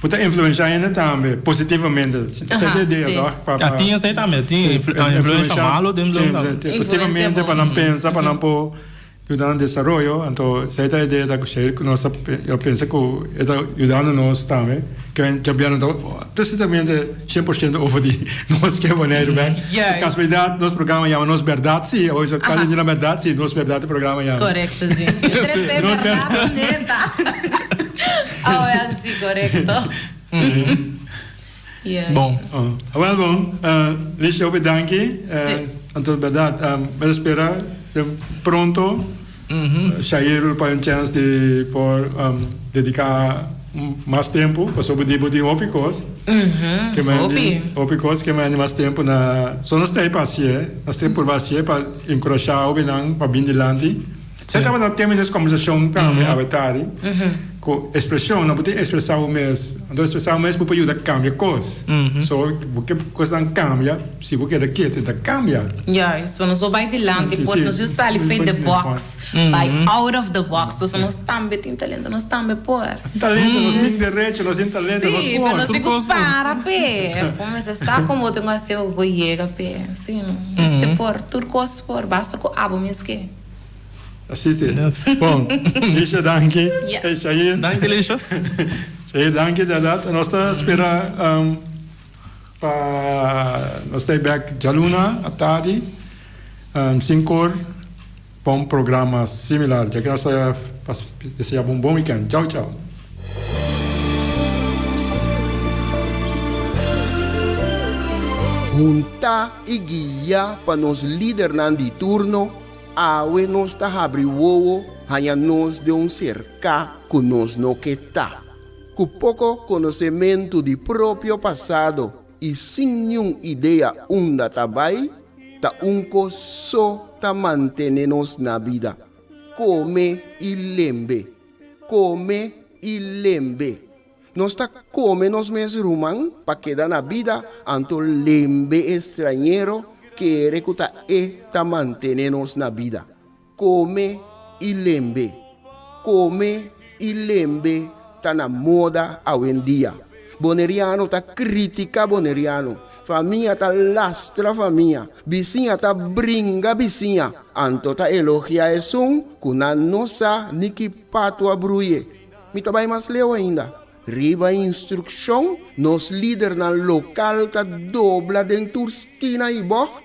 Bo ta influencia hende tambe positivamente. A tin esei tambe, a tin influencia malo den blum tambe. Positivamente pa nan pensa pa nan por yuda nan desaroyo, anto esei ta idea ta kusei ku nos ta pensa ku e ta yudando nos tambe. Djobia nan ta precisamente sien por siento over di nos ke Boneiru bek. Por kasualidat nos programa yama Nos Berdad Si. Oy so kasa di nan berdad? Si, Nos Berdad e programa yama. Korekto si. Interesante berdad, neta. Awe a si korekto. Yes. Bon. Oh, awel bon. Uh, Lisha, obe danki. Uh, sí. Anto verdad, um, me espera de pronto. Mm -hmm. uh, Shair pa un chance de por um, dedicar más tempo, pues op die body hopi kos. Mhm. Que me hopi. Hopi kos que me andi más tempo na só nos tem pasie, nos tem por pasie pa encorajar hopi nan pa bin dilanti. Sa tabata un tema di nos kombersashon tambe abertari, ku ekspreshon nan bo tin ekspresá bo mes. Anto ekspresá bo mes bo por yuda kambia kos. So, ke kosnan kambia si bo keda ketu? E ta kambia. Ya, so nos por bai dilanti, por nos por sali fuer di box, bai out of the box. So, so nos tambe tin talento, nos tambe por. Nos tin talento, nos tin derecho, nos tin talento, nos por. Sí, pero nos tin ku para p'e. Bo mester sa kon bo tin ku hasi, bo por yega p'e. Sí, no? Nos tin por, tur kos por, basta ku abo mes ke. Así te. Yes. Bon. Lisha danki. Yeah. Hey, Shahir. Danki Lisha. Shahir danki de dat. Nos ta spera um, pa nos stay back Jaluna atadi um, sin kor pa un programa similar. Ja que nos ta pa desea bon bon weekend. Ciao ciao. Hunta i guia pa nos lidernan di turno, Awe nos ta habri wowo haña nos den un serká ku nos no ke ta. Ku poko konosementu di propio pasado i sin niun idea unda ta bai, ta un kos so ta mantene nos na bida, kome i lembe. Kome i lembe. Nos ta kome nos mes ruman pa keda na bida, anto lembe e strañero kere ku ta e ta mantené nos na bida. Kome i lembe. Kome i lembe ta na moda awendia. Boneriano ta kritika boneriano. Famia ta lastra famia, bisiña ta bringa bisiña, anto ta elogia esun ku nan no sa ni ki patu a bruye. Mi ta bai mas leu ainda. Riba instrukshon, nos lidernan lokal ta dobla den tur skina i bògt.